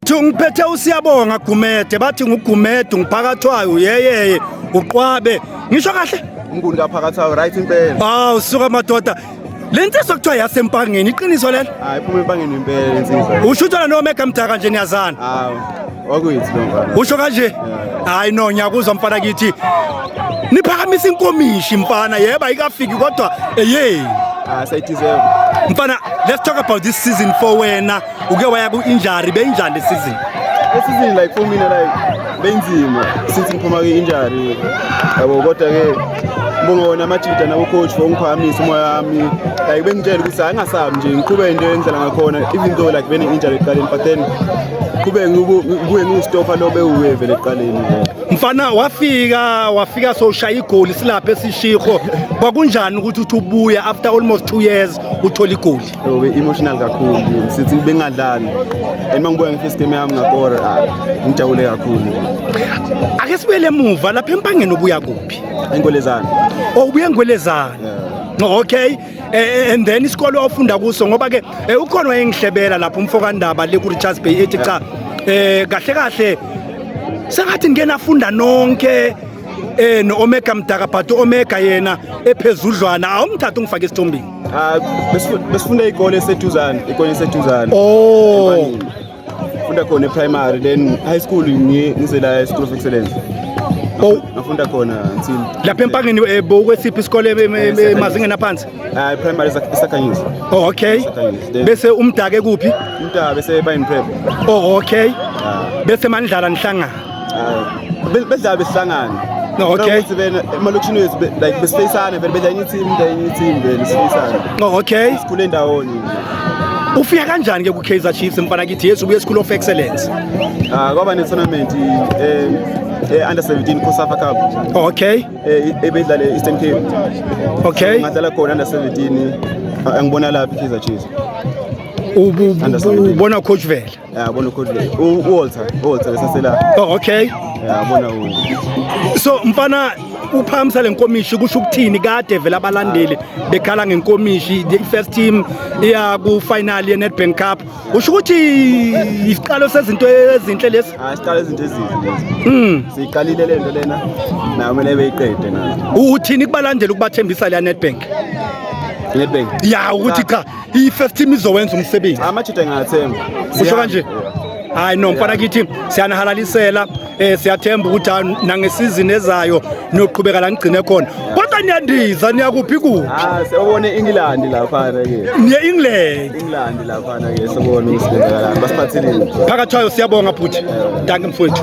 Thi ngiphethe usiyabonga Gumede bathi nguGumede ngiphakathwayo yeyeye uqwabe ngisho kahle umnguni kaphakathayo right impela hawu ah, suka madoda le nsizwa kuthiwa yasempangeni iqiniso lelo hayi phuma empangeni impela le nsizwa usho ukuthi no mega mdaka nje niyazana hawu wakuyithi lo mfana usho kanje hayi no ngiyakuzwa mfana kithi niphakamisa inkomishi mfana yebo ayikafiki kodwa eyey ah, mfana let's talk about this season for wena uke waya ku-injury beyinjani lesizini esizini like for mina like benzima since ngiphuma kwi-injury yabo kodwa-ke ngibonga wona amajida nabocoach for ungiphakamisa umoya wami like bengitshela ukuthi hayi ngasabi nje ngiqhube into endlela ngakhona even though like bene-injury ekuqaleni but then qhube kuye ngiwustofa lo bewuye vele ekuqaleni mfana wafika wafika sowushaya igoli silapha esishikho kwakunjani ukuthi uthi ubuya after almost two years uthola igoli Ube emotional kakhulu sithi bengadlali and mangibuya ngefirst game yami ngakora ah, ngijabule kakhulu ake sibuyele emuva lapha empangeni obuya kuphi enkolezana oh ubuya enkolezana yeah. okay Eh, eh, and then isikole ofunda kuso ngoba ke eh, ukhona wayengihlebela lapho umfokandaba le ku Richards Bay ethi cha eh kahle kahle sengathi ngike nafunda nonke eh no Omega Mdaka but Omega yena ephezudlwana awumthatha ungifake esithombini Ah, besifu- besifunda ikole eseduzane ikole eseduzane Oh. Empanini. funda khona e-primary then high school ngi- ngize la e-school of excellence Oh, ngafunda khona until lapha empangeni eh, bokwesiphi isikole em- em- em- emazingeni aphansi Ah, i-primary esa- esakhanyisa oh okay Esakhanyisa. Then bese umdake kuphi umntaba bese bayini prep oh okay Ah. bese manidlala nihlangana bedlala behlangana no okay ukuthi vele emalokishini wethu like besifeyisane vele bedla enye team bedla enye team vele sifeyisane no okay sikhule ndawonye ufika kanjani ke ku Kaizer Chiefs mfana kithi yesu ubuye school of excellence ah kwaba ne tournament eh eh under 17 Cosafa Cup okay eh ebedlale Eastern Cape okay ngadlala khona under 17 angibona lapha Kaizer Chiefs ubona coach vele yabona ukhulile uWalter uWalter lesasela oh okay yabona u so mfana uphamisa lenkomishi kusho ukuthini kade vela abalandeli bekhala ngenkomishi the first team iya ku final ye Nedbank Cup usho ukuthi isiqalo sezinto ezinhle lesi ah isiqalo izinto ezinhle lesi mm siqalile lento lena na kumele beyiqede na uthini kubalandela ukubathembisa le Nedbank Nedbank ya ukuthi cha i-first team izowenza umsebenzi amajita engathemba usho kanje hayi no mfana kithi siyanihalalisela eh siyathemba ukuthi ah, nangesizini ezayo niyoqhubeka la ngigcine khona kodwa niyandiza niyakuphi kuphi ah sewone England lapha ke niye England England lapha ke sewone usebenza la basiphatheleni phakathi kwayo siyabonga bhuti danke mfowethu